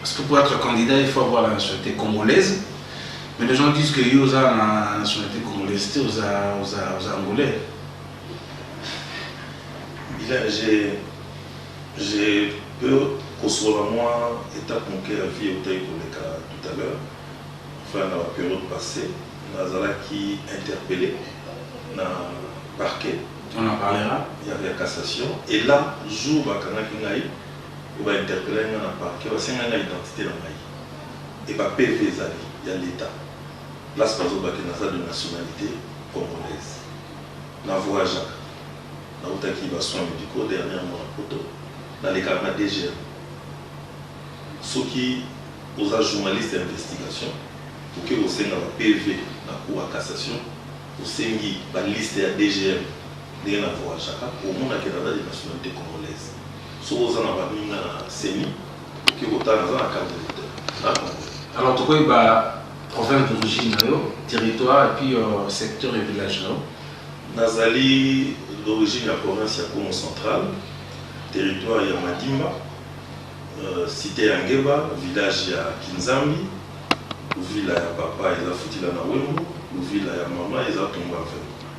Parce que pour être candidat, il faut avoir la nationalité congolaise. Mais les gens disent que yo oza na nationalité congolaise te oza oza oza angolais. Bila j'ai j'ai peu kosola mwa étape moke ya vie eutaki koleka tout à l'heure enfin na ba période passé nazalaki interpellé na parquet On en parlera. ya, ya cassation et là jour bakangaki ngai oyo ba interpellaki nga na parquet, basengaki nga identite na ngai et ba PV ezali ya l'etat place bazo loba que naza de nationalite congolaise. Na voyagaka, nawutaki ba soins medicaux dernièrement na poto, nalekaka na DGM. Soki oza journaliste ya investigation, oke kosenga ba PV na cour ya cassation, osengi ba liste ya DGM ndenge na voyagaka, okomona que naza de nationalite congolaise. Soki oza na baninga na ceni oke kotala naza na carte d'electeur na congolais. Alors tokoyi ba province d'origine na yo, territoire et puis secteur et village na yo. Nazali d'origine ya province ya Kongo central, territoire ya Madimba, cite ya Ngeba, village ya Kinzambi, Luvila ya papa eza Futila na Wembo, Luvila ya mama eza Tumbuavelo.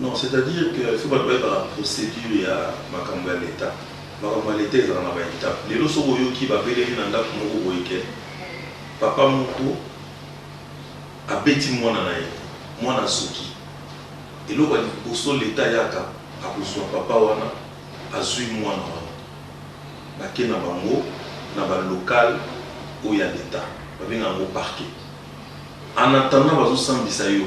Non c'est à dire que il faut batu bayeba na procedure ya makambo ya l'etat makambo ya l'etat ezalaka na ba etape lelo soki oyoki ba beleli na ndaku moko boye ke papa moko abeti mwana na ye mwana azoki eloko ya liboso l'etat ayaka akozua papa wana azui mwana wana bake na bango na ba local oyo ya l'etat babengaka yango parquet en attendant bazo sambisa yo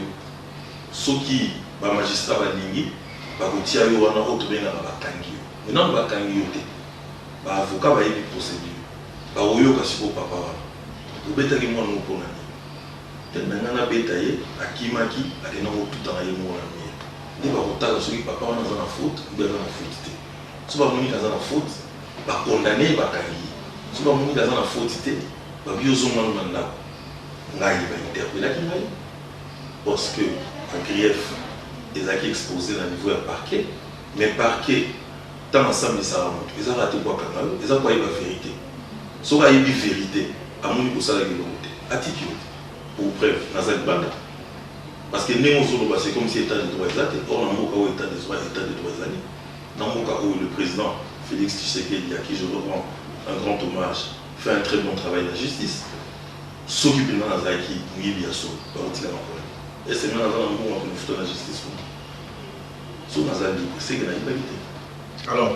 Soki ba magistrats balingi bakotia yo wana oyo tobengaka bakangi yo mais nanu bakangi yo te ba avocats bayebi procedure bakoyoka sikoyo papa wana obetaki mwana oyo pona nini tete na ngai nabeta ye akimaki akenda kotutana ye moko na mur nde bakotala soki papa wana aza na faute oubien aza na faute te soki bamoni kaza na faute ba condamne ye bakangi ye soki bamoni kaza na faute te babi ozonga nanu na ndako ngai ba interpellaki ngai parce que ba grief ezalaki expose na niveau ya parquet mais parquet tango asambisaka mutu eza kaka te po akanga yo eza po ayeba verite soki ayebi verite amoni kosalaki eloko te atiki yo te pour preuve naza libanda parce que ndenge ozoloba c'est comme si etat de droit eza te or na mboka oyo etat de droit etat de droit ezali na mboka oyo le président Félix Tshisekedi à qui je rends un grand hommage fait un très bon travail na justice Soki penza nazalaki muyibi ya solo bakotika nga polele est ce que nga naza na mbongo ya komifuta na justice kuna? Soki naza libre seke nayibaki te. Alors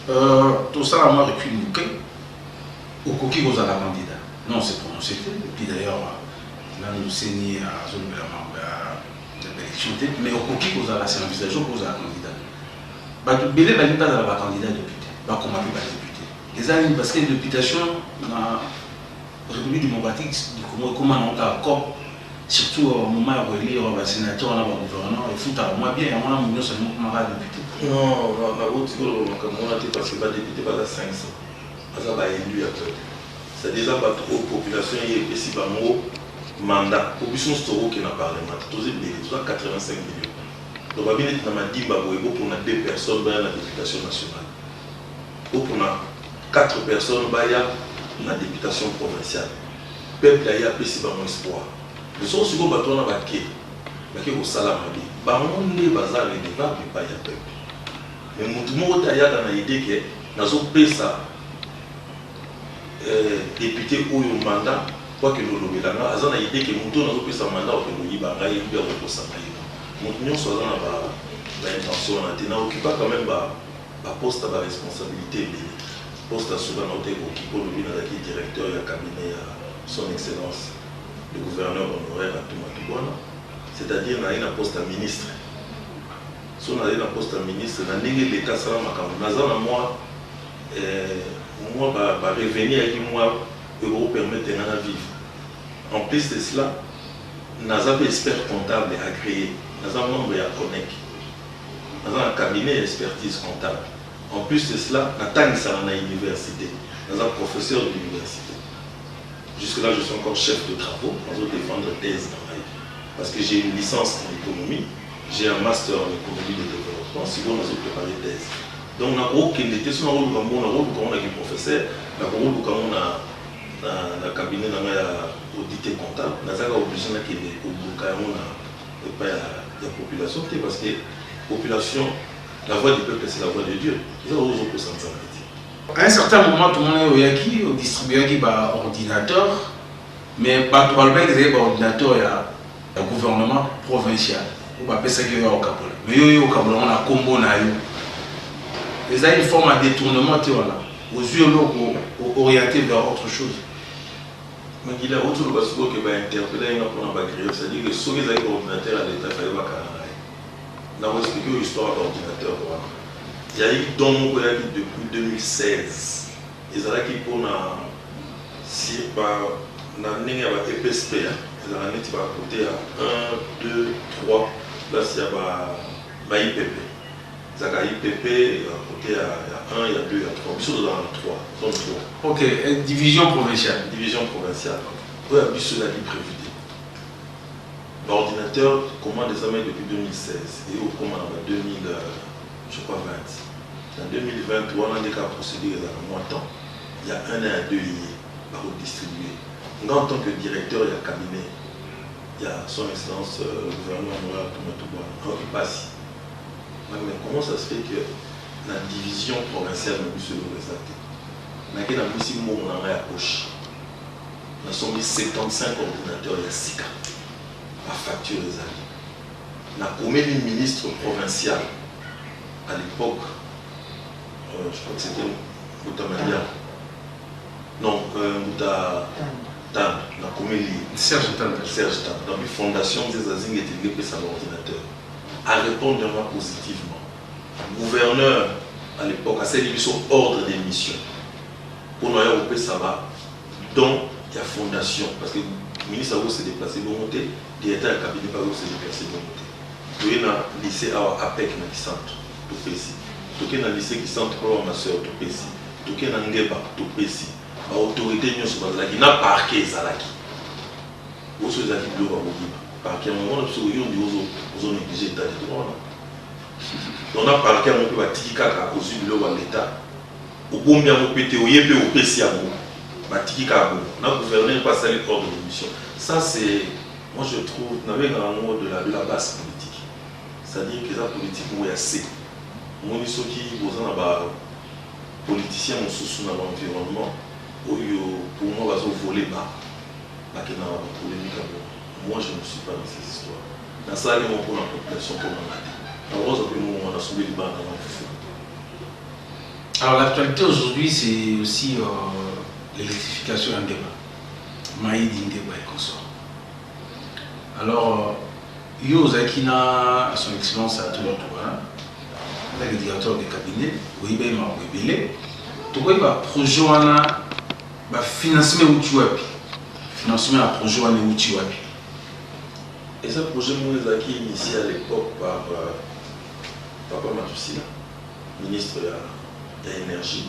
euh, tosala mwa recul moke, okoki kozala candidat non se prononcer te epuis d'ailleurs nanu seni azolobela mambo ya baélection te mais okoki kozala se envisage okozala candidat bato ebele balingi bazala bacandidat député bakoma mpe badeputé Eza nini parce que reputation na République démocratique du Congo ekoma na kaka cop surtout au moment ya ko élire ba sénateurs na ba gouverneurs efutaka mwa bien yango na munyo sa nimo koma kaka député. Non, na na boti ko loba makambo wana te parce que ba députés baza 500 baza ba élus ya peuple c'est à dire eza batu oyo population ye epesi bango mandat po biso nionso toko kende na parlement te toza ebele toza 85 millions donc ba bimi neti na madimba boye bo pona deux personnes baya na deputation nationale Bopona quatre personnes baya na deputation provinciale. Peuple aye apesi bango espoir. Soko sikoyo batu wana bake, bake kosala mabe, bango nde baza redevables epayi ya peuple. Mais mutu moko te ayaka na idee que nazo pesa depute oyo mandat po akende kolobela nga. Aza na idee que mutu oyo nazo pesa mandat akokende koyiba ngai ou bien akokosa ngai. Mutu nionso aza na ba intentions wana te. Na occupa quand meme ba Ba postes na ba responsabilites ebele. Poste ya suka na oteki ko kipe olobi nazalaki directeur ya cabinet ya Son Excellence le Gouverneur honoraire Atuma Tubona, c'est à dire nazalaki na poste ya ministre. Soki nazali na poste ya ministre, na ndenge l'Etat asala makambo, naza na mua mua ba revenus eyaki mua oyo eko permettre ngai na vivre. En plus de cela, naza mpe expert comptable agreer, naza membre ya CONEC. naza na cabinet ya expertise comptable en plus de cela na tangisaka na universite naza professeur d'universite jusque là je suis encore chef de travaux nazo defendre thèse na ngai parce que j'ai une licence en économie j'ai un master en économie de développement sikoyo nazo préparer thèse donc nakokende te so nakoluka ngo nakoluka ngo na kiprofesseur nakoluka ngo na na, na cabinet na ngai ya audite comptable nazaka oblige nakende koluka yango na epai ya ya population te parce que population la voix du peuple c'est la voix de Dieu eza oyo ozokosa nzambe te à un certain moment tomona oyaki odistribuaki baordinateur mais bato balobaki ezali baordinateur ya ya gouvernement provincial oyo bapesaki oyo okabola mais yo yo okabola yango na nkombo na yo eza une forme ya détournement te wana ozwi eloko orienté vers autre chose Makila awuti oloba sikoyo que ba interpella ye nga pona ba grief c'est à dire que soki ezalaki ordinateur ya l'etat fallait ba kanga ye na ko explique yo histoire ya ba ordinateur wana ezalaki don moko eyaki depuis 2016 ezalaki pona si ba na ndenge ya ba epsp ya ezalaka neti ba cote ya un deux trois place ya ba ipepe Ezalaka IPP ya cote ya ya 1 ya 2 ya 3 biso tozalaka na 3 zone 3. Ok eh, division provinciale. Division provinciale oyo ya biso ezalaki prevu te. Ba ordinateur commande ezamaki depuis 2016 eye kokoma na ba 2000 euh, je crois 20 na 2020 wana nde kaka procédure ezalaka mwa temps ya 1 na ya 2 eye bakodistribue nga en tant que directeur ya cabinet ya son excellence euh, le gouverneur moral tumatuba aoki mpasi Ba mais comment ça se fait que na division provinciale na biso eloko eza te? Nake na bimisi mbongo na ngai ya poche, na sombi 75 ordinateurs ya sika, ba factures ezali, na komeli ministre provincial à l'epoque, euh, je crois que c'était Mbuta Malia, non euh, Mbuta Tanda, na komeli Serge Tanda, Serge Tanda, donc fondation Nzeza Zinga etendi epesa ba ordinateurs a repondre nga positivement gouverneur à l'epoque asali biso ordre de mission pona ya kopesa ba don ya fondation parce que ministre ako se deplacer bongo te directeur ya cabinet pe ako se deplacer bongo te toye na lycée awa apec na kisantu topesi toke na lycée kisantu pe awa ma soeur topesi toke na ngeba topesi ba autorite nionso bazalaki na parquet ezalaki oso ezalaki biloko ya kobima Parquet yango omona biso yo nde ozo ozo negliger etat de droit wana donc na parquet yango mpe batiki kaka ozwi biloko ya l'etat obombi yango mpe te oye mpe opesi yango batiki kaka bongo na gouverneur mpe asali ordre de mission ça c'est moi je trouve nabengaka yango de la de la base politique c'est à dire que eza politique moko ya se omoni soki boza na ba politicien mosusu na ba environnement oyo pour moi bazo vole ba bakendaka ba polemika bongo Moi je ne suis pas dans ces histoires na salaki yango pona population pona nga te na rosa pe mbongo na sumbeli bana na nga fufu na te. Alors l'actualité aujourd'hui c'est aussi euh, l'électrification ya Ndeba, Maïdi Ndeba et consort. Alors euh, yo ozalaki na son excellence à tout l'autre voilà. Ozalaki directeur de cabinet, oyebi ye makambo ebele. Tokoyeba projet wana Ba financement ewuti wapi? Financement ya projet wana ewuti wapi? Eza projet moko ezalaki initie à l'epoque par papa Matusila, ministre ya energie.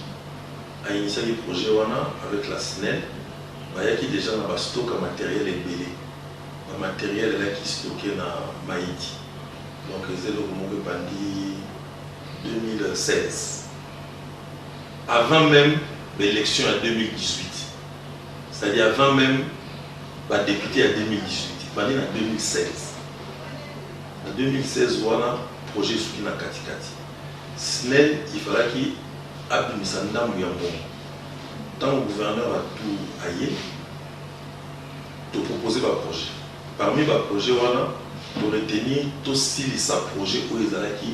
A initiaki projet wana avec la snel, bayaki dejà na ba stock ya materiel ebele. Ba materiel elaki stocke na Mayiti. Donc eza eloko moko ebandi 2016. avant meme ba elections ya 2018 c'est à dire avant meme ba deputes ya 2018 ebandi na 2016 na 2016 wana projet esuki na katikati snel ifalaki abimisa ndambo ya mbongo ntango gouverneur ya tour aye topropose baprojet parmi baprojet wana toretenir tosilisa projet oyo ezalaki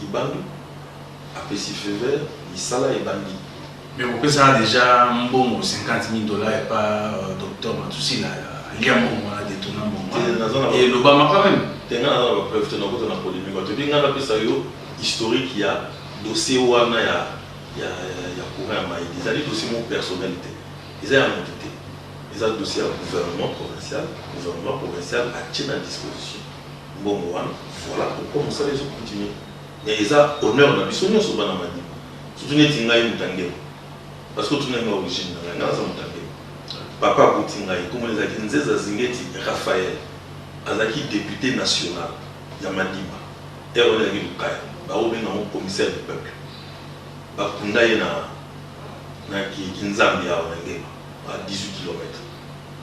Libandu apesi feu vert misala ebandi. Mais kopesa dejà mbongo 50000 dollars epa docteur Matusila alia mbongo wana detourna mbongo wana et elobama quand meme. Te nga naza na ba preuves te nakota na polemique wana te puis nga napesa yo historique ya dossier wana ya ya courant ya mayi ezali dossier moko personnel te eza ya mutu te eza dossier ya gouvernement provincial gouvernement provincial atie na disposition mbongo wana voila pourquoi musala ezo continue mais eza honneur na biso nionso bana madiba surtout neti ngai mutangelo parce que otuna nga origine na ngai nga naza mutangelo papa akuti ngai komona ezalaki nzeza zingeti raphael azalaki depute national ya madiba heure wana ezalaki lukaya baobenga yango commissaire du peuple bakunda ye na na kinzambi awa na ngema à 18 kilomètre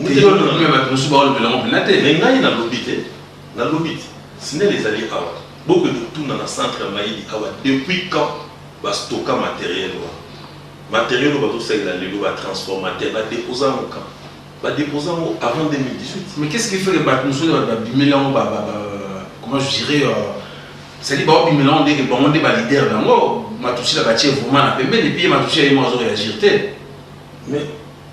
Ngai na lobi na bato mosusu baolobela yango mpena te. Mais ngai na lobi te, na lobi te. Snel ezali awa. Boko ende kotuna na centre ya mayele awa depuis quand ba stocka materiel wana. Materiel oyo bazo salela lelo ba transformateur ba deposa yango quand? Ba deposa yango avant 2018. Mais qu'est-ce qui fait que bato mosusu bato ba bimeli yango ba ba ba comment je dirais euh, c'est-à-dire bao bimela yango ndenge bango nde ba leader na yango. Matushila batie vraiment na pembeni puis ye Matushila ye moko azo reagir te. Mais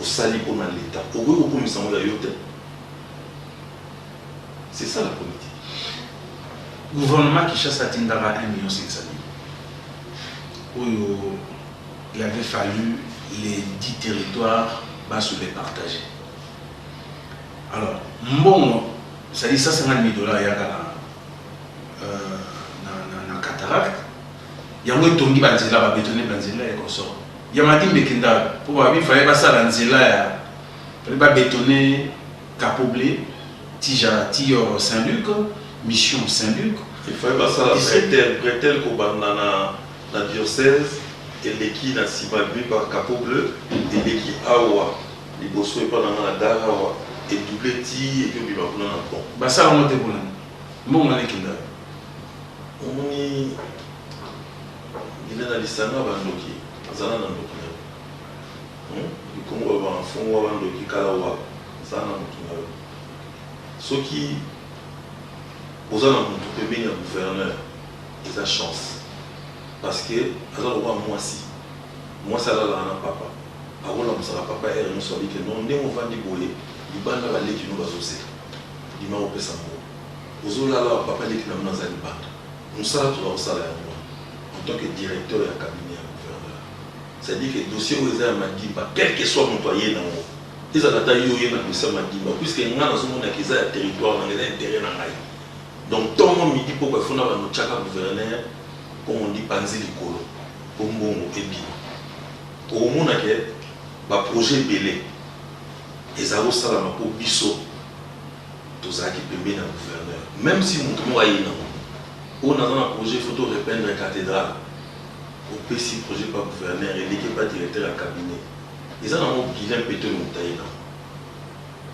Osali pona leta okoki kokomisa yango ya yo te c'est ça la politique. Gouvernement Kinshasa atindaka 1 million 500 000 oyo il avait fallu les 10 territoires baso les partager alors mbongo c'est-à-dire 150 000 dollars yaka na, euh, na, na, na cataracte yango etongi ba nzela ba betone ba nzela et consort ya madi mbeki ndalo po ba bi fallait ba sala nzela ya fallait ba betone capoble tija tior saint luc mission saint luc il fallait ba sala bretel bretel ko banda na na diocèse eleki na sima bi par capot bleu eleki awa liboso epa na nga na gare awa et double ti et puis obima kuna na pont ba sala ngo te kuna mbongo wana eki ndalo Omoni bina na lisanga ba ndoki zala na ndoki nayo hum le congo ba banga fungua ba ndoki kala wa zala na mutu nayo soki oza na mutu pembeni ya gouverneur eza chance parce que aza lokola muasi muasi alalaka na papa ako lamusaka papa heure nionso abi ke non ndenge ovandi boye libanda ba leki no bazo zela bima opesa mbongo Ozo lala awa papa leki na bino aza libanda musala toza kosala yango wana en tant que directeur ya cabinet ya gouverneur c'est à dire que dossier oyo eza ya madimba quelque soit mutu aye na ngo ezala ata yo oye na dossier ya madimba puisque nga nazo mona ke eza ya territoire na nga eza interet na ngai donc tongo midi pokwa il faut na bando tiaka gouverneur comme on dit panzi likolo po mbongo ebima okomona ke ba projet ebele eza kosalama po biso tozalaki pembeni ya gouverneur meme si moto moko ayei na ngo oyo naza na projet faut to repeindre cathedrale opesi projet pa gouverneur eleki epa directeur ya cabinet eza na ngo guilain petoyo moto ayei na ngo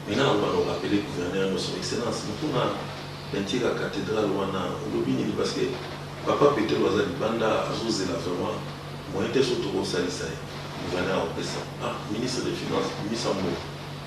mais nga nakoka na korapele gouverneur no son excellence moto na peinture ya cathedrale wana olobi nini parce que papa petelo aza libanda azozela vraiment moyen te so tokosalisa ye gouverneur akopesa ah ministre de finance bimisa mbongo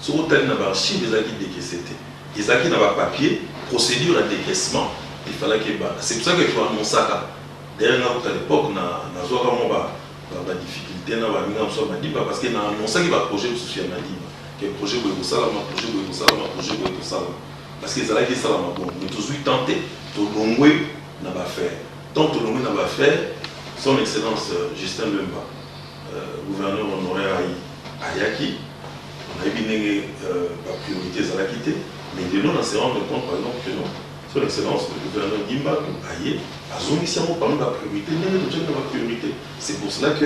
Soki otali na ba archives ezalaki decaisse te, ezalaki na ba papiers, procedure ya decaissement il fallaki ebanda, c'est pour ça que tu annoncaka, d'ailleurs nga kutu à l'epoque na nazuaka mwa ba ba difficultes na baninga mosusu ya Madimba parce que na annoncaki ba projets mosusu ya Madimba que projet boye ekosalama, projet boye ekosalama, projet boye ekosalama parce que ezalaki esalama bongo mais tozui temps te tolongwe na ba affaires, tant tolongwe na ba affaires, Son Excellence Justin Bemba. Gouverneur honoraire ayaki, nayebi ndenge ba priorites ezalaki te, mais de nos na se rendre compte par exemple que non, son excellence le gouverneur Guy Mbangu aye azongisi yango parmi ba priorites ndenge totiaki na ba priorites. C'est pour cela que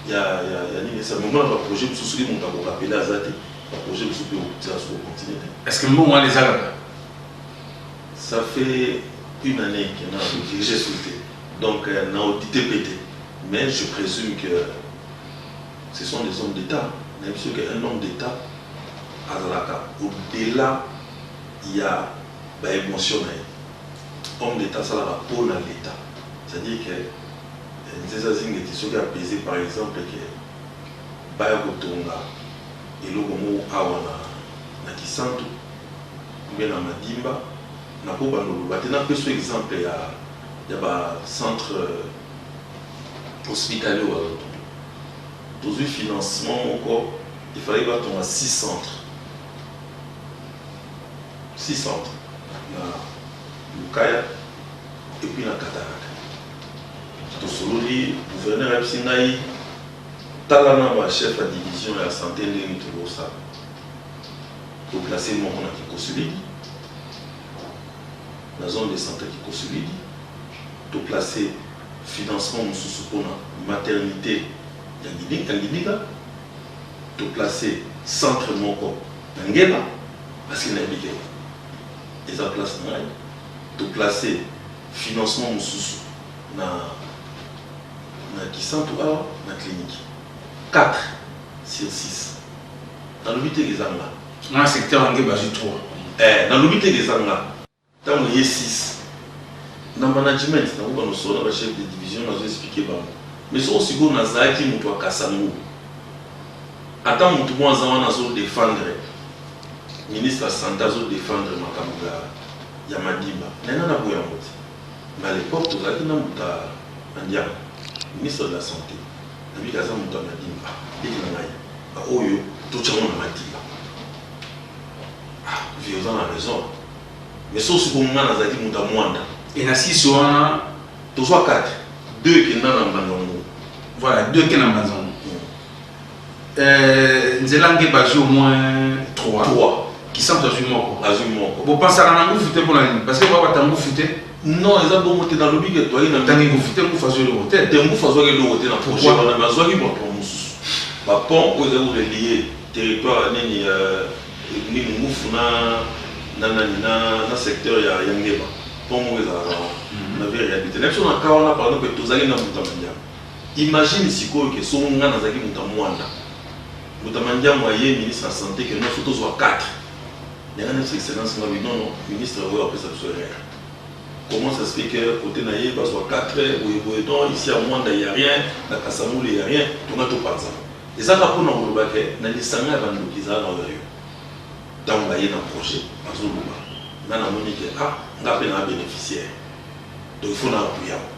ya nini esa mais omona ba projets mosusu soki moto ako rappeler aza te, ba projets mosusu mpe okotia lisusu ko continuer te. Est-ce que mbongo wana eza kaka? Ça fait une annee que na ko diriger SUTE donc na auditer mpe te. Mais je presume que ce sont des hommes d'etat nayebi biso ke un homme d'etat azalaka au dela ya ba emotion naye homme d'etat asalaka pona l'etat c'est à dire ke nzeza zingeti soki apese par exemple ke baya kotonga eloko moko awa na na kisantu ou bien na madimba nako banda koloba te napeso exemple ya ya ba centre Hospitalier oyo azo tonga tozui financement moko il fallait ba tonga 6 centre 6 centre na lukaya et puis na kataraka tosololi gouverneur ayebisi ngai tala na ba chef ya division ya sante ndenge tokosala toplace moko na kikosolidi na zone de sante kikosolidi to placer financement mosusu pona maternite ya Ngibika, to placer centre moko na Ngeba parce que nayebi ke eza place na ngai, to placer financement mosusu na na Kisantu awa na clinique. Quatre sur six. Nalobi te ke eza nga. Nga na secteur ya Ngeba azwi trois. Ee, nalobi te ke eza nga. Tango ye six na management na ngo ba no solo na ba chef de division nazo explique bango mais soko sikoyo na zalaki mutu ya kasango ata mutu moko aza wana azo defendre ministre ya sante azo defendre makambu ya ya madimba mais nga na boya ngo te mais à l'epoque tozalaki na mbuta andiango ministre de la sante na bika aza mutu ya madimba ah leki na ngai ba oyo to tia ngo na madimba Ah vie oza na raison mais soki siko nga nazalaki mutu ya muanda. Et na sisi wana tozua kate deux kenda na mbanzango. Voilà deux kenda na mbanzango. Euh, nzela nge bazui au moins trois. Trois. Kisantu azui moko. Azui moko. Bo pensaka na ngufu te pona nini? Parce que ba bata ngufu te. Non, eza bongo te na lobi ke toyaki na tangi ngufu te ngufu azui eloko te. Te ngufu azwaki eloko te na projet wana mais azwaki ba pont mosusu. Ba pont oyo ezali ko relier Territoire nini ya nini ngufu na na nani na na secteur ya ya ngeba pont moko ezalaka wana na vere ya bite na biso na ka wana pardon mpe tozali na mbuta mandiango imagine sikoyo ke soko ngai nazalaki moto ya mwanda mbuta mandiango aye ministre ya sante ke nyonso tozwa 4 yanga na biso excellence ngabi non non ministre oyo apesa biso erreur comment ça se fait que côté na ye bazwa 4 boye boye non ici ya mwanda ya rien na kasamule ya rien tonga topanzana Eza kaka pona koloba ke na lisanga ya ba ndoki eza kaka oyo yo tangu baye na projet bazo loba nga na moni ke ah nga pe na beneficiaire donc il faut na appuie yango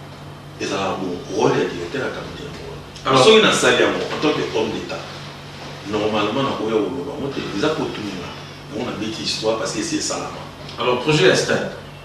ezalaka bongo role ya directeur ya cabinet yango wana alors soki na sali yango en tant que homme d'etat normalement na koya koloba yango te eza potu nga yango na beti histoire parce que esi esalama alors projet ya stade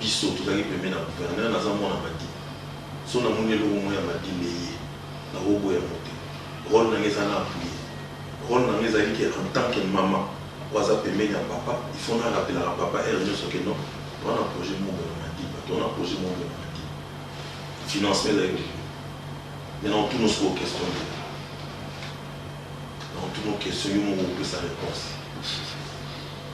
biso tozalaki pembeni ya gouverneur naza mwana madi soki na moni eloko moko ya madi leye nako boya yango te role na nga eza na appuie role na nga ezali ke en tant que maman oyo aza pembeni ya papa il faut na rappelaka papa heure nioso ke non toza na projet moko boye na madiba toza na projet moko boye na madiba financement ezali kolinga mais na otuna osoko question te na otuna question yo moko opesa reponse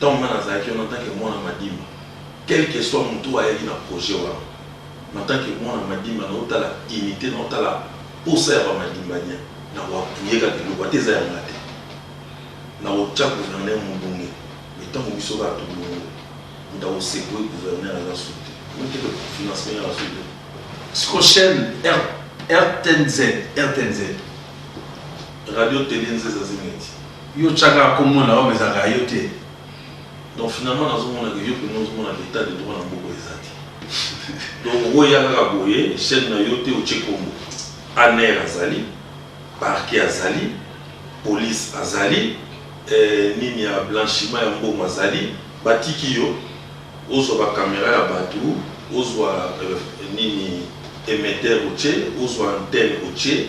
tango nga nazalaki wana en tant que mwana madimba quel que soit mutu oyo ayaki na projet wana en tant que mwana madimba nazo tala unite nazo tala posa ya ba madimbadien nako appuyer kaka eloko ata eza ya nga te nako tia gouverneur mudunge mais tango biso kaka tolongwe mutu ako secouer gouverneur aza sous te omoni ke pe financement eza sous te siko chaine rtnz rtnz radio tele nzeza zineti. Yo otia kaka kombo na yo mais ezalaka ya yo te. Donc finalement nazo mona que yo penza ozo mona que etat de droit na mboka eza te. Donc okoki oya kaka boye chaine na yo te otie kombo. Anr azali, parquet azali, police azali, eh, nini ya blanchiment ya mbongo azali, ba tiki yo ozwa ba camera ya batu, ozwa eh, nini emetteur otie, ozwa antenne otie,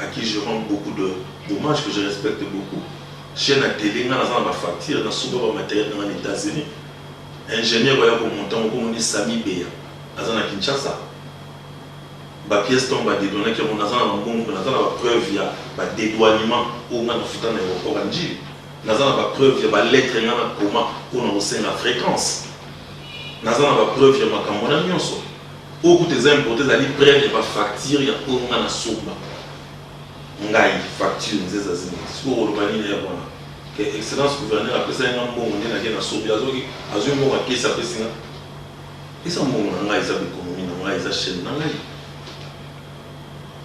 à qui je rends beaucoup de d'hommage que je respecte beaucoup chaine ya tele nga naza na ba facture na somba ba materiel nanga na etats unis ingenieur oya ko monta ngo kombo ni sami beya aza na kinshasa ba pièce tango ba dedouanaki yango naza na ba mbongo pe naza na ba preuve ya ba dedouanement oyo nga na futa na aeroport ya ndjili naza na ba preuve ya ba lettre nga na koma pona kosenga frequence naza na ba preuve ya makambo wana nionso Oyo kutu eza importe ezali preuve ya ba facture ya oyo nga na somba ngai facture nzeza zinga sikoyo koloba nini ya wana ke excellence gouverneur apesaki nga mbongo nde nake na sombi azoki azwi mbongo ya kesi apesi nga eza mbongo na ngai eza ba economie na ngai eza chaine na ngai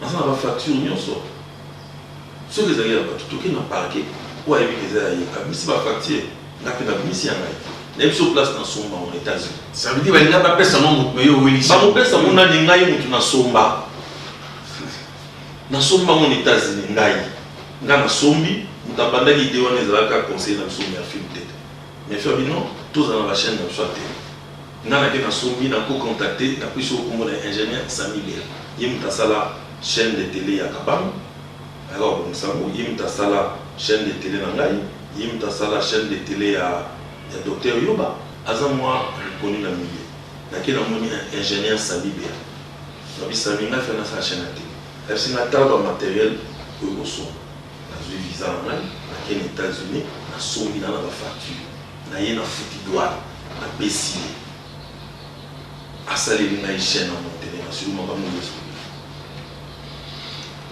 naza na ba facture nyonso Soki ezali ya batu toke na parquet oyo ayebi ke eza ya ye abimisi ba facture nga pe na bimisi ya ngai nayebi soo place na somba ngo na etats unis. Ça veut dire balinga ba pesa ngo mutu mais yo owelisi yango. Bako pesa ngo nani ngai mutu na somba na somba ngo na etats unis ngai nga na sombi mutu abandaki idee wana ezalaka conseiller na biso mais a film tete mais fabino tozala na ba chaine na biso ya tele. Nga nake na sombi na ko contacter na pesi yo kombo naye ingenieur Samy Bela ye mutu asala chaine de tele ya kabangu ayaka ko bongisa yango ye mutu asala chaine de tele na ngai ye mutu asala chaine de tele ya ya docteur Yoba aza mua reconnu na milieu nake na moni ingenieur Samy Bela alobi Samy nga fe nasala chaine ya tele ayebisi nga tala ba materiel oyo ko somba nazui visa na ngai nake na Etats Unis na sombi na na ba facture naye na futi douane na pesi ye asaleli ngai chaine na montele na sulu makambo nioso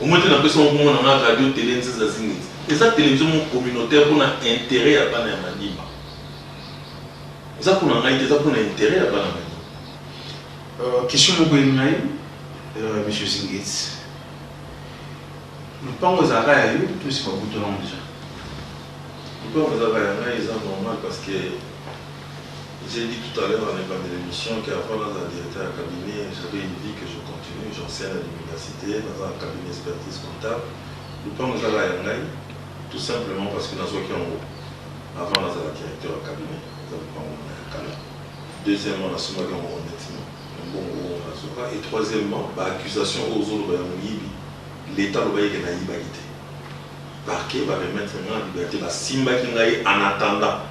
omote na pesi moko mona na radio tele nzeza zingiti eza television moko communautaire pona interet ya bana ya manima eza pona ngai te eza pona interet ya bana manima euh, question moko ye ngai euh, monsieur zingiti lupango ezalaka ya yo to esi babutolango deja Pourquoi bazalaka ya ngai eza normal parce que j'ai dit tout à l'heure en ebandeli emission que avant nazala directeur ya cabinet j'avais une vie que je continue j'enseigne à l'universite naza na cabinet expertise comptable lopango ezalaka ya ngai tout simplement parce que nazwaki yango avant nazala directeur ya cabinet eza lopango na ya kala deuxièmement nasombaki yango honnêtement na mbongo oyo nazwaka et troisièmement ba accusation oyo ozoloba ya moyibi leta alobaki ke nayibaki te Parquet ba remettre nga na liberte, basimbaki ngai en attendant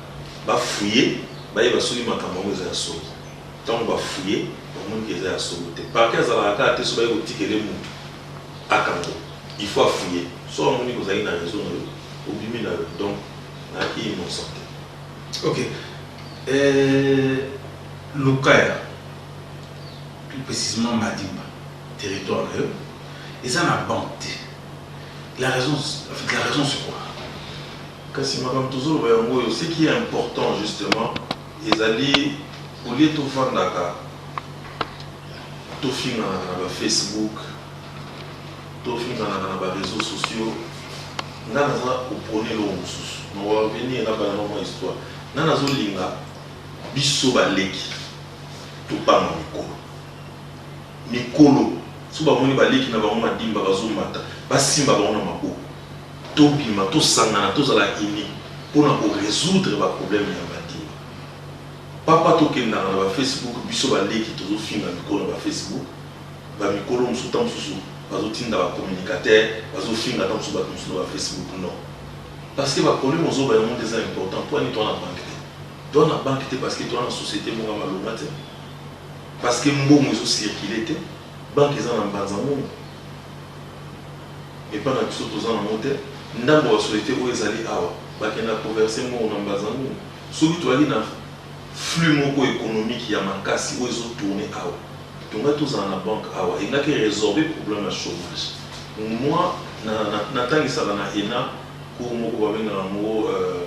ba fouiller bayeba soki makambo yango eza ya solo. Tango ba fouiller bamoni que eza ya solo te. Parquet azalaka kaka te soki baye kotikela ye mutu akanga il faut a fouiller. Soki amoni que ozalaki na raison na yo obimi na yo donc nayaki innocent te. Ok. Eeh Lukaya, plus precisement Madimba, territoire na yo eza na banque te? la raison en fait la raison c'est quoi kasi makambo tozoloba yango oyo ce qui est important justement ezali olie tofandaka tofinganaka na bafacebook tofinganaka na bareseau sociaux nga naza opone eloko mosusu nawarveni ena bana mwa histoire nga nazolinga biso baleki topanga mikolo mikolo soki bamoni ba leki na bango madimba bazo mata ba simba bango na maboko to bima to sangana to zala unis pona ko resoudre ba probleme ya madimba papa to kendaka na ba Facebook biso ba leki tozo finga mikolo na ba Facebook ba mikolo mususu tango mususu bazo tinda ba communicateur bazo finga tango mususu batu mususu na ba Facebook non parce que ba probleme ozo ba yango nde eza important pwani toza na banque te toza na banque te parce que toza na societe moko ya malonga te. Parce que mbongo ezo circuler te, banque eza na mbanza mbongo epa na biso toza na ngo te, ndambo ya societe oyo ezali awa bakenda ko verser mbongo na mbanza mbongo. Soki tozalaki na flux moko economique ya makasi oyo ezo tourner awa, tongaki tozala na banque awa, engaki e resorber problème ya chomage. Moi, na tangisaka na ENA cours moko babengaka ngo euh,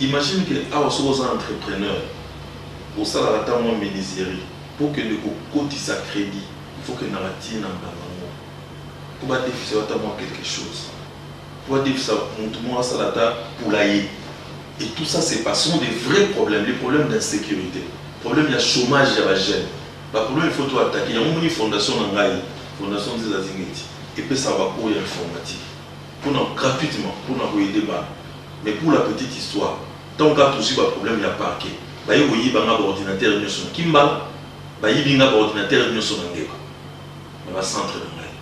Imagine que awa soki oza entrepreneur osalaka ata mwa menuiserie po okende ko kotisa credit il faut okende na ba ti na mbanga ngo po ba defisa yo ata mwa quelque chose po ba defisa mutu moko asala ata poulailler et tout ça c'est pas sont des vrais problèmes les problèmes d'insecurite problème ya chomage ya ba jeunes ba problèmes il faut to attaquer yango omoni fondation na ngai fondation nzila zingeti epesaka ba cours ya informatique pona gratuitement pona ko aider bana mais pour la petite histoire tango kaka tozui ba problème ya parquet baye koyiba nga ba ordinateur nioso na kimbala bayibi nga ba ordinateur nioso na ngbeka na ba centre na ngai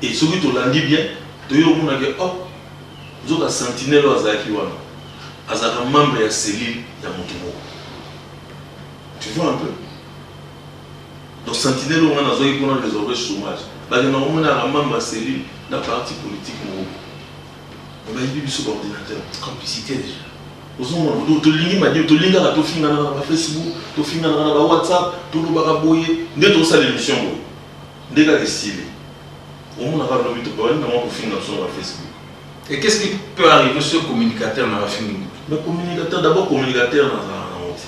et soki tolandi bien toye komona ke oh nzoka sentinelle oyo azalaki wana azalaka membre ya cellule ya mutu moko tu vois un peu Donc sentinelle oyo nga nazwaki mpo na resorber chomage, bakendaka komonelaka membre ya cellule na parti politique moko boye. Mais bayibi biso ba ordinateurs. Complicite dejà. Ozomona donc tolingi madilu, tolingi kaka tofinganaka na ba Facebook, tofinganaka na ba WhatsApp, tolobaka boye, nde tozosala emission boye. Nde kaka esili. Omona kaka lobi tobandi na mwa kofinga biso na ba Facebook. Et qu'est-ce qui peut arriver soki communicateur na yo afingi moto? Mais communicateur, d'abord communicateur nazalaka na yango te.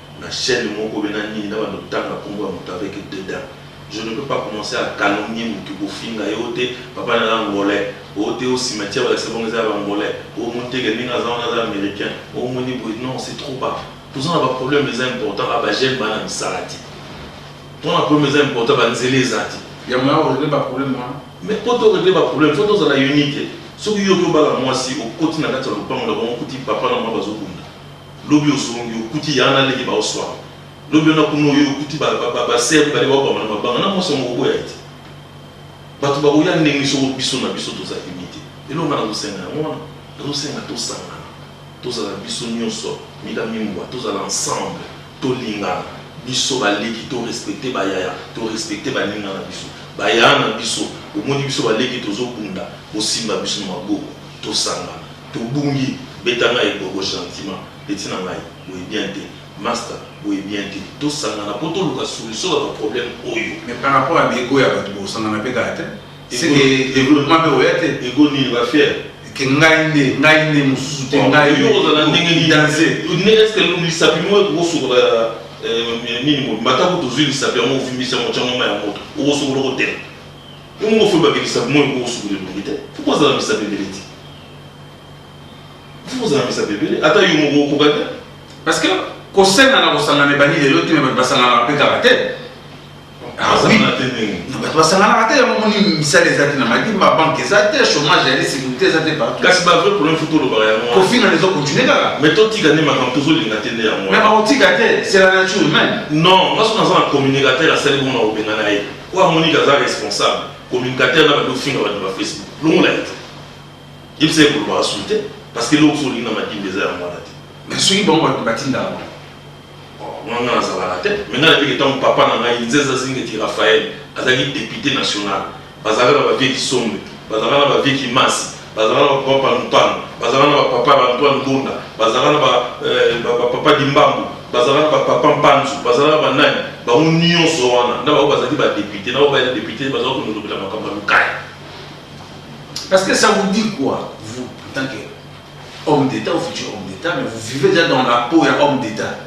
na chaine moko be na nini na banda kotanga kombo ya moto avec dedans je ne peux pas commencer à calomnier moto kofinga ye oyo te papa nayo angolais oyo te oyo cimetière balakisa bango eza ya ba angolais oyo omoni te ke ndenge aza wana aza americain oyo omoni boye non c'est trop bas toza na ba problème eza important a ba jeune ba na misala te to na problème eza important ba nzela eza te ya moyen ko regler ba problème wana mais po to regler ba problème faut tozala unite soki yo oke obala mwasi okoti na kati ya lopango na bango okuti papa na mama bazo bunda Lobi ozongi okuti ya na leki bao suana lobi wana kuna oye okuti ba ba ba sœur mibale bao bama na mabanga na mwasi yango okoboya ye te batu bakoya ndenge nini soko biso na biso toza unis te eloko nga nazo senga yango wana nazo senga tosangana tozala biso nioso mida mimbua tozala ensemble tolingana biso ba leki to respecter ba yaya to respecter ba ninga na biso ba yaya na biso omoni biso ba leki tozo bunda bosimba biso na maboko tosangana. Tobungi beta nga ebobo gentiment petit na ngai boye bien te masta boye bien te tosangana po toluka solution na ba problème oyo. Mais par rapport ya ba ego ya batu bosangana pe kaka te seke developpement pe ekoya te. Ego nini ba fier? Que ngai nde ngai nde mususu te ngai nde okozala danze nde est ce que lisapi moko ekoki kosokola nini mobimba ata kutu ozui lisapi yango ovimbisi yango otia yango mayi ya moto okosokola okotela? Bongo faut bakitisa moi ko suku de longite. Pourquoi ça me sabe bele ti? Pourquoi ça me sabe bele? Ata yo moko okokaki. Parce que kosenga na kosangana ebandi lelo te bato basanganaka mpe kaka te bato basanganaka te yango moni misala eza te na madi babanke eza te chômage ya insécurité eza te partout kasi bavrai problème fo tolobaka yango kofina ezo continue kaka mais totika nde makambo tozolinga te nde yango mais bakotika te c'est la nature humaine non ngai soki naza na communicateur asali bongo na kobengana ye Oyo amoni ke aza responsable communicateur na bandi ofinga batu ba Facebook longola ye te yebisa ye kolobaka sulu te parce que eloko so olingi na madimba eza yango wana te mais soki bango bato batindaka bango wana nga nazalaka te mais nga nayebeke ntango papa na ngai nzeza zingeti raphael azalaki depute national bazalaka na bavie kisombe bazalaka na bavie kimasi Bazalaka na ba papa Panupanu, bazalaka na ba papa ba Antoine Mbunda, bazalaka na ba ba papa Dimbambu, bazalaka na ba papa Mpanzu, bazalaka na ba nani, bango nionso wana na bango bazalaki ba deputes, na bango ba deputes bazalaki ko milobela makambo ya Lukaya. Parce que ça vous dit quoi vous en tant que homme d'Etat ou futur homme d'Etat, mais vous vivez déjà dans la peau ya homme d'Etat,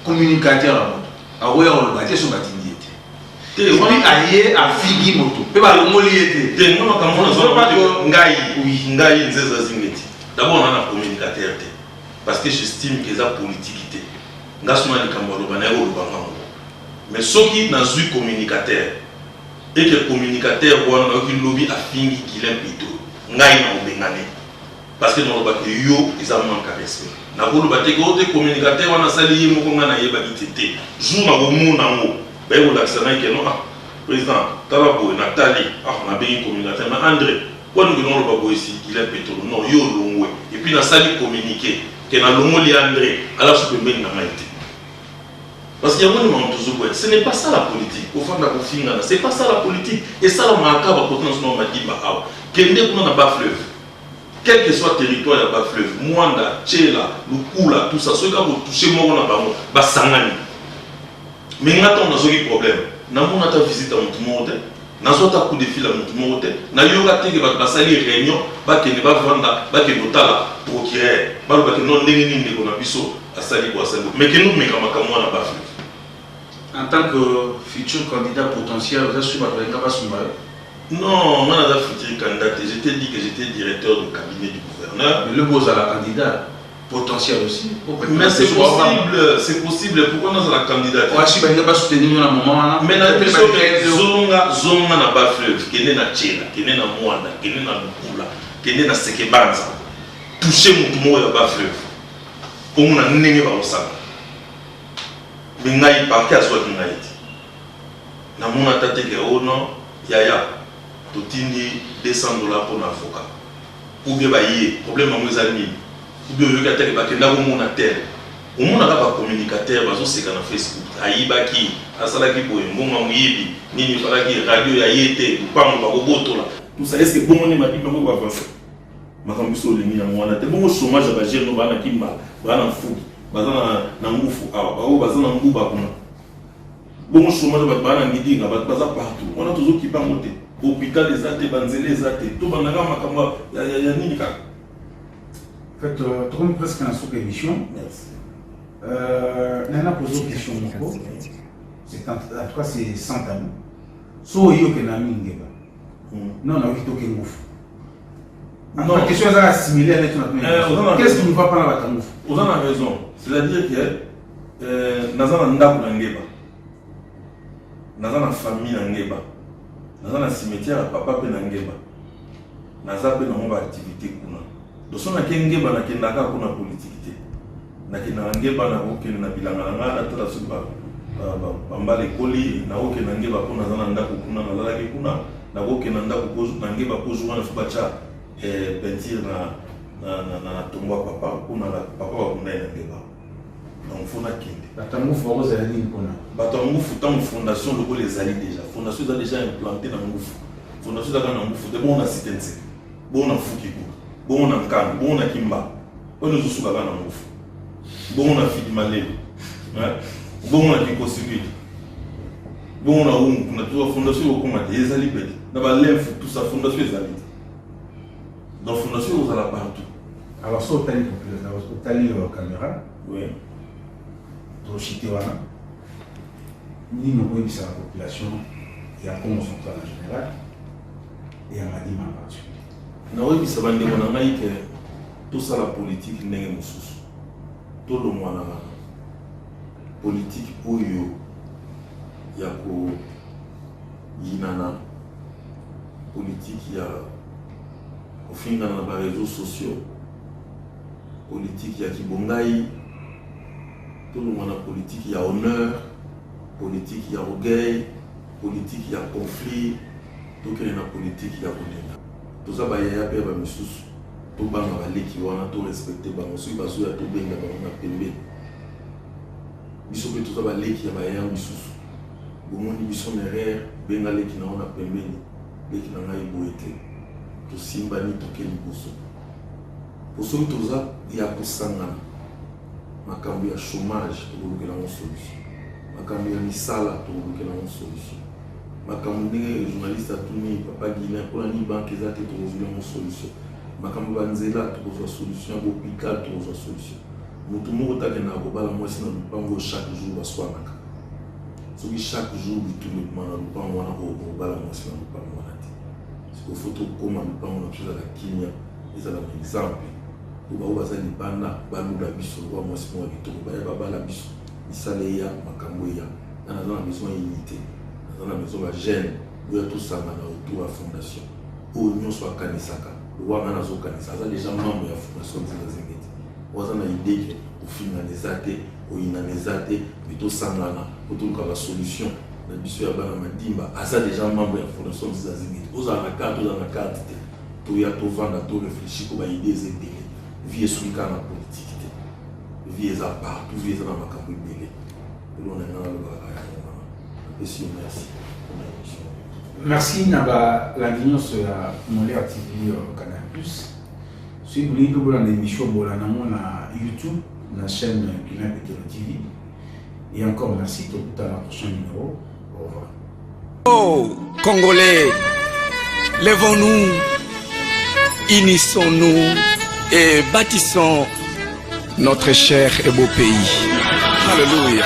communicateur ya moto akoya koloba te soki batindi te soki aye afigi moto mpe balongoli ye te te nga makambo wana zwa bato ngai ngai nzeza zingeti d'abord na na communicateur te parce que j'estime que eza politique te nga suna likambo aloba naye koloba nga moko mais soki nazwi communicateur eke communicateur wana nayoki lobi afingi Guilain Pito ngai na obengane Parce que naloba que yo eza manque ya respect. Nako loba te que oh te communicateur wana asali ye moko nga nayebaki te te. Jour nako mona yango baye ko lakisa ngai que non ah president tala boye na tali ah na bengi communicateur mais Andre pourquoi nde okendaka oloba boye si Guilain Petolo non yo olongwe et puis na sali communique que na longoli Andre alasu pembeni na ngai te. Parce que yango nde makambo tozo boya. Ce n'est pas ça la politique. Ofanda ko fingana. C'est pas ça la politique. Esalamaka kaka ba cote na biso na Madimba awa. Kende kuna na bas fleuve. Quel que soit territoire ya bas fleuve, Muanda, Tshela, Lukula, tout ça, soki kaka o toucher moko na bango, ba sangani. Mais nga tango nazwaki problème, na mona ata visite ya mutu moko te, nazwa ata coup de fil ya mutu moko te, na yoka te que batu ba sali reunion, ba kende ba vanda, ba kende ko tala Procureur, ba loba que non ndenge nini ndeko na biso a sali boye a sali boye. Mais kende o meka makambo wana bas fleuve. En tant que futur candidat potentiel, oza sur batu balinga ba sunga yo? Non nga naza futur candidat te je t'ai dit que j'etais directeur de cabinet du gouverneur. Mais lobi ozala candidat potentiel aussi. Mais c'est possible, c'est possible pourquoi nazala candidat te? Oashi balinga ba soutenir yo na moment wana. Mais na biso zonga zonga na ba fleuve kende na Tshela, kende na Mwanda, kende na Lukula, kende na Sekebanza. Toucher mutu moko ya ba fleuve. Omona ndenge bakosala. Mais ngai parquet azwaki ngai te. Na mona ata te que oh non yaya totindi 200 dollars pona avocat ou bien baye problème yango eza nini ou bien oyoki ata que bakenda ko mona tel omona ka ba communicateur bazo seka na Facebook ayibaki asalaki boye mbongo ya moyibi nini efalaki radio ya ye te lupangu bako botola tout ça est ce que bongo nde mabimi yango eko avancer makambo biso olingi yango wana te bongo chomage ya ba jeune no baa na kimba baa na mfugi baza na na ngufu awa ba oyo baza na nguba kuna Bongo chomage bato baa na midinga bato baza partout wana tozo kipa yango te hopital eza te banzela eza te to banda kaka makambo ya, ya, ya nini kaka en fait euh, tokomi presque na suka émission merci euh, nana pozo question moko c'est en tout cas c'est sans tabou so oyoke na mingeba hmm. non nayoki toke ngufu Non, la question est similaire. Qu'est-ce qui ne va pas dans la Oza a raison. C'est-à-dire que Euh, naza na ndako na ngeba naza na famille na ngeba naza na cimetière ya papa mpe na ngeba naza mpe nango baactivité kuna doso nake ngeba nakendaka kuna politike te nakendaka ngeba nakokende na bilanga na ngai natala soki bambala ekoli nakokenda ngeba mpo naza na ndako kuna nazalaki kuna nakokenda ndako na ngeba mpo zuwa na fi batya eh, peinture na tongo ya papa kuna papa bakundai na ngeba donc fo nakende bato ya ngufu bakozala nini mpona bato ya ngufu ntango fondation lokola ezali déjà fondation eza déjà implante na ngufu fondation ezalaka na ngufu te bongo na site nseke bongo na fuki kutu bongo na nkanga bongo na kimba oyo ezosukaka na ngufu bongo na fidi maleli bongo na kikosibili bongo na wungu kuna tuza fondation ekokoma te ezali pete na balemfu tusa fondation ezali te Donc fondation vous allez partout. Alors ça otali population, otali euh, caméra. Oui. Donc chité wana. Ni no ko bisa population ya Congo central en général et à Madima en particulier. Na ko bisa bande wana ngai que tout ça la politique ndenge mususu. To lo mwana politique oyo ya ko yinana Politique ya kofingana na ba réseaux sociaux, politique ya kibongai, tolongwa na politique ya honneur, politique ya orgueil, politique ya conflit, tokende na politique ya kolinga. Toza bayaya mpe ya bamisusu, tobanga baleki wana, torespecte bango, soki bazoya tobenga bango na pembe. Biso mpe toza baleki ya bayaya misusu. Bomoni biso na erreur benga leki na yo na pembeni leki na ngai boye te tosimbani toke liboso po soki toza ya kosangana makambo ya chômage tokolukela yango solution makambo ya misala tokolukela yango solution makambo ndenge journaliste atuni papa guilin mpona nini banke eza te tokozwi yango solution makambo banzela tokozwa solution ya bopital tokozwa solution Mutu moko te akendaka kobala mwasi na lupangu oyo chaque jour baswanaka. Soki chaque jour bitumba ekoma na lupangu wana okoka kobala mwasi na lupangu wana te. Sikoyo faut tokoma lupangu na biso ezala kimia, ezala na exemple. Po baoyo baza libanda balula biso lokola mwasi moko ya kitoko baya babala biso. Misala eya, makambu eya. Nga naza na besoin ya unite, naza na besoin ba jeunes boya tosangana autour ya fondation. Oyo nionso akanisaka lokola nga nazokanisa aza dejà membre ya fondation Nzinga Zingeti. Waza na idee que kofingana eza te, koyinana eza te, mais tosangana po toluka ba solution na biso ya bana madimba. Aza dejà membre ya fondation Nziza Zingiti. Ozala na carte ozala na carte te, toya tovanda to reflechir po ba idees eza ebele. Vie esuki kaka na politique te, vie eza partout, vie eza na makambo ebele. Eloko na lingi nanga naloba kaka yango wana. Napesi yo merci pona emission oyo. Merci na ba landi nionso ya Molière TV Canal Plus. Soki bolingi mpe bolanda emission bolanda yango na YouTube na chaîne Guilain Petelo TV. Et encore merci tokutana prochain numéro. Au revoir. Oh Congolais, levons-nous, unissons-nous et bâtissons notre cher et beau pays. Alléluia.